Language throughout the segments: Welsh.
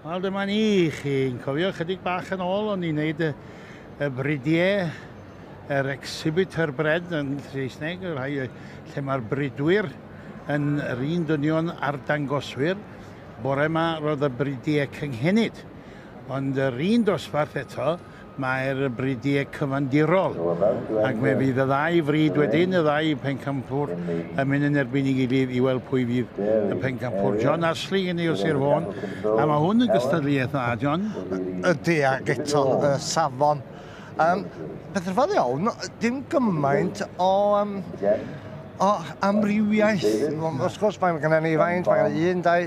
Wel dyma ni, chi'n cofio chydig bach yn ôl o'n i'n neud y, y bridiau, yr exhibitor bread yn Saesneg, y rhai lle mae'r bridwyr yn yr un dynion a'r dangoswyr. Bore yma roedd y bridiau cynghenid. Ond yr un dosbarth eto, Mae'r bridiau cyfandirol, ac fe fydd y ddau frid wedyn, y ddau Pencampwr, yn mynd yn erbyn ei gilydd i weld pwy fydd y Pencampwr. John Ashley gen i o Sir Fôn, a mae hwn yn gystadleuaeth dda, John. Ydy, ac eto, y safon. Um, peth rhyfedd iawn, dim gymaint o... Um, o amrywiaeth. Wrth gwrs, mae gennym ni faint, mae gennym ni un, dau,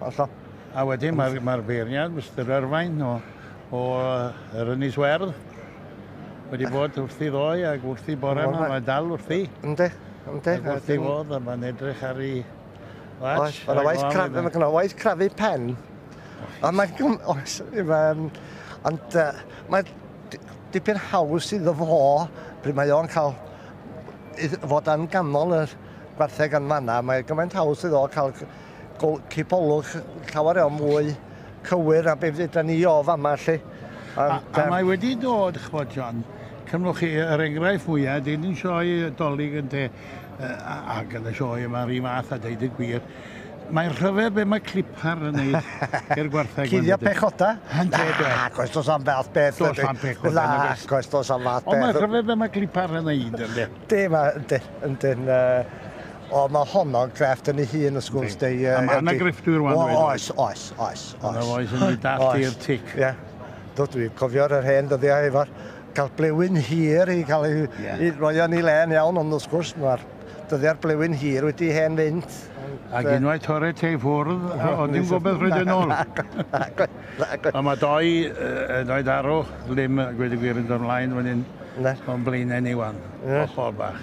Hollol. A wedyn mae'r mae beirniad, Mister Erfain o, o yr Ynys Werdd, wedi bod wrthi ddoe ac wrthi bore yma, mae dal wrthi. Ynddi, ynddi. Ac wrthi fodd, a mae'n edrych ar ei watch. Mae'n waith crafu, mae'n waith crafu pen. Ond mae'n... Oes, ond mae'n dipyn haws iddo fo, pryd mae o'n cael fod yn ganol y gwartheg yn fanna, mae gymaint haws iddo cael cipolwg llawer iawn mwy cywir na beth fydda ni o fama lle. Ond, a, a mae wedi dod, chwbod John, cymrwch chi yr enghraifft mwyaf, dyn yn sioe dolyg yn te, a gan y sioe yma rhi fath a deud y gwir, Mae'n rhyfedd be mae clipar yn neud i'r gwartheg. Cuddio pechoda? Ynddo, do. Ac oes dos am fath beth. Dos am pechoda. Na, ac oes dos am fath beth. Ond mae'n rhyfedd be mae clipar yn neud, ynddo. Dim, ynddo, ynddo. O mae honno'n grefft yn ei hun wrth gwrs de ie. A mae 'na grefftwyr rwan dweud oes? Oes oes oes oes. A fo sy'n mynd dallt i'r tic. Ie. Do dwi'n cofio yr hen dyddiau efo'r cael blewyn hir i cael ei i roi o yn ei le yn iawn ond wrth gwrs ma'r dyddiau'r blewyn hir wedi hen fynd. Ag unwaith torri te i ffwrdd o dim gobeth roid e nôl. Nagwyd nagwyd. A ma' doi yy doi darw ddim gweud y gwir yn dod mlaen fan 'yn. Na. O'n blaenau ni ŵan. Ie. Hollol bach.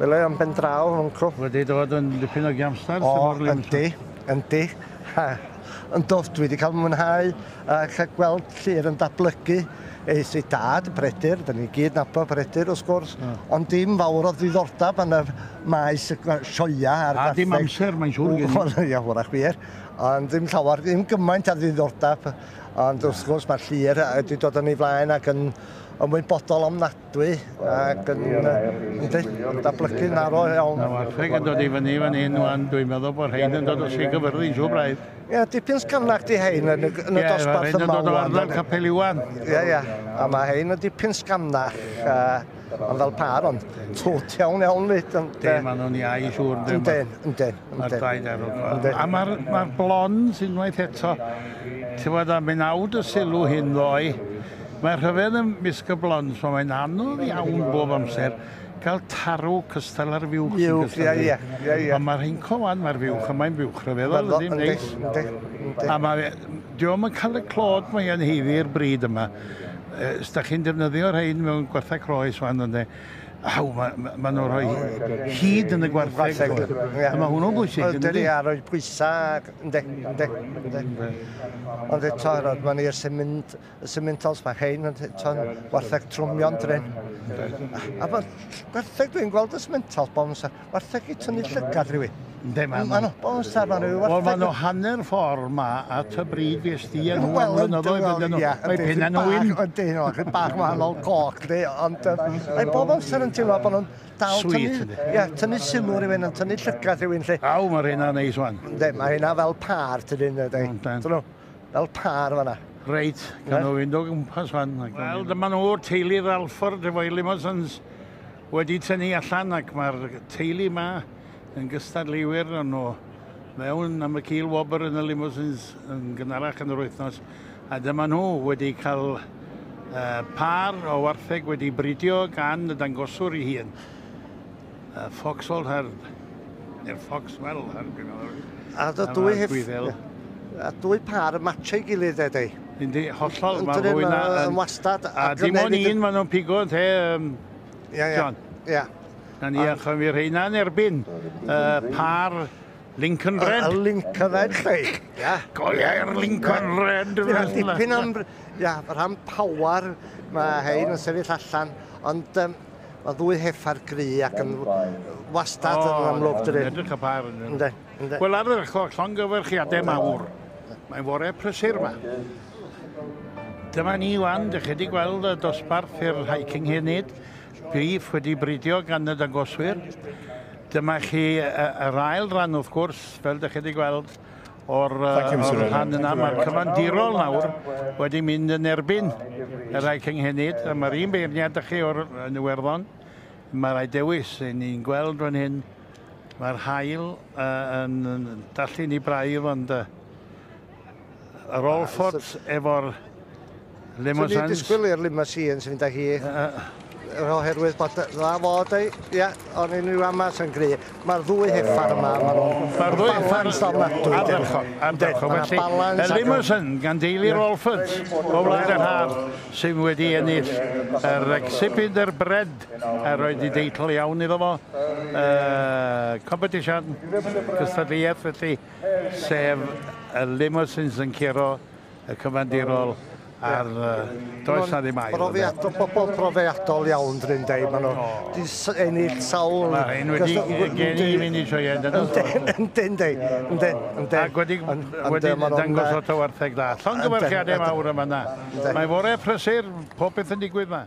Wel e, yn ben draw, Uncle. Wedi dod yn dipyn o giamstar O, Sir Fôn. yndi, yndi. Yndw, dwi wedi cael mwynhau a cael gweld Llyr yn datblygu. Eith ei dad, Bredyr, da ni gyd nabod Bredyr wrth gwrs, ond dim fawr o ddiddordeb yn y maes y sioia a'r gartheg. A dim amser, mae'n siŵr gen i. Ia, hwrach wir. Ond ddim llawer, ddim gymaint a ddiddordeb. Ond wrth gwrs mae Llyr wedi dod yn ei flaen ac yn ymwybodol ofnadwy dwi ac yn, yndi, yn dablygu'n arw iawn. Mae wartheg yn dod i fyny fan hyn wan, dwi'n meddwl bod rhain yn dod o Sir Gyfyrddin, siw braidd. Ie, dipyn sgarnach di hein yn y, yn y dosbarth yma. Ie, rhain yn dod o ardal Capel Iwan. Ie, ie, a mae hein yn dipyn sgarnach, uh, ond fel par, ond twt iawn iawn fyd. Ynddi, maen nhw'n iau siwr. Ynddi, ynddi. Mae'r daid ar ôl. A mae'r ma blond unwaith eto, ti'n fawr da, mynd awd y sylw hyn ddoe, Mae rhyfedd ym mysg y blond, so mae'n anodd iawn bob amser cael tarw cystal ar fuwch sy'n gystal â fi. Ond mae'r heinco wan, mae'r fuwch yma'n fuwch rhyfeddol, ydy'n neis. A mae, diolch yn cael y clod mae yn heiddi i'r bryd yma. Os da chi'n defnyddio rhain mewn gwarthau croes wan, ynddo, Aw, maen nhw'n rhoi hyd yn y gwartheg. Mae hwnnw'n bwysig, ynddi? Ynddi, a rhoi pwysau. Ynddi, ynddi, ynddi. Ond eto, rod ma'n i'r symint, y symintals, mae hein yn eto'n wartheg trwmio'n drin. A bod gwertheg, dwi'n gweld y symintals bob amser, wartheg i tynnu llygad rhywun. Ynddi, ma'n nhw. Bob amser ma'n rhyw wartheg. Wel, ma'n nhw hanner ffordd ma at y bryd fes di yn nhw am flynyddoedd ydyn nhw. Mae penna nhw un. Ydyn nhw, rhyw bach wahanol coch, ond mae bob amser yn teimlo bod nhw'n dal Sweet, tynnu, yndi. ia, tynnu sylw rhywun, yn tynnu llygad rhywun 'lly. Aw, ma' rheina neis wan. Yndi, ma' rheina fel pâr tydyn, dydi? Yndan. Tynnu, fel pâr fanna. Reit, gawn nhw fynd o gwmpas wan. Wel, dyma nhw, teulu Ralford efo'i limosins wedi tynnu allan ac mae'r teulu 'ma yn gystadleuwyr o'n nhw mewn am y cil wobr yn y limosins yn gynharach yn yr wythnos. A dyma nhw wedi cael pâr o wartheg wedi bridio gan y dangoswr ei hun. Y Foxhold Herd. Neu'r Foxwell Herd. A dwy hef... A dwy pâr yn matchio'i gilydd de, dei? Yndi, hollol. Mae rhywun yn wastad... A dim ond un maen nhw'n pigo, te, John? Ia, ia. Na ni, achos mi rheina yn erbyn y pâr Lincoln Red. A, a Lincoln Red, chweich. Ia. Go leia'r Lincoln yeah. Red. Ia, dipyn am... Ia, rhan power mae hein yn sefyll allan, ond um, mae ddwy heffa'r gry ac yn wastad oh, yn amlwg dydyn. Yn edrych y par yn ynddo. Wel, ar yr ochr, llongyfarchiadau mawr. Mae'n fore prysur yma. Dyma ni wan, dych chi wedi gweld y dosbarth i'r hiking hyn nid. Prif wedi bridio gan y dangoswyr. Dyma chi yr ail ran wrth gwrs, fel dych chi wedi gweld o'r, o'r rhan yna. Mae'r cyfandirol nawr wedi mynd yn erbyn y rhai cynghenid. A mae'r un beirniad ydych chi o'r yn Iwerddon. Mae rhai dewis i ni'n gweld fan hyn. Mae'r hael uh, yn, yn dallu ni braidd ond uh, Yr Allford efo'r Limousines. Dwi'n disgwyl i'r Limousines fynd â hi. Yr oherwydd bod dda fod ei... Ia, o'n i'n rhyw amas yn gry. Mae'r ddwy heffar yma, maen nhw'n balans ofnadwy. Ardderchog, ardderchog. Felly, y Limousine gan deulu'r Allfords o Wlad yr Haf sydd wedi ennill yr Exhibit yr Bred a roed i deitl iawn iddo fo. Competition, cystadleuaeth, felly sef y limousines yn curo y cyfandirol ar does na ddim ail. Profiadol, pobl profiadol iawn dyn ni'n dweud, maen nhw wedi ennill sawl... Mae hyn wedi geni i fynd i sioeau dyn nhw. Yndyn, yndyn, yndyn, yndyn. Ac wedi, wedi dangos lot o wartheg da. Llongyfarchiadau mawr yma na. Mae fore prysur, popeth yn digwydd yma.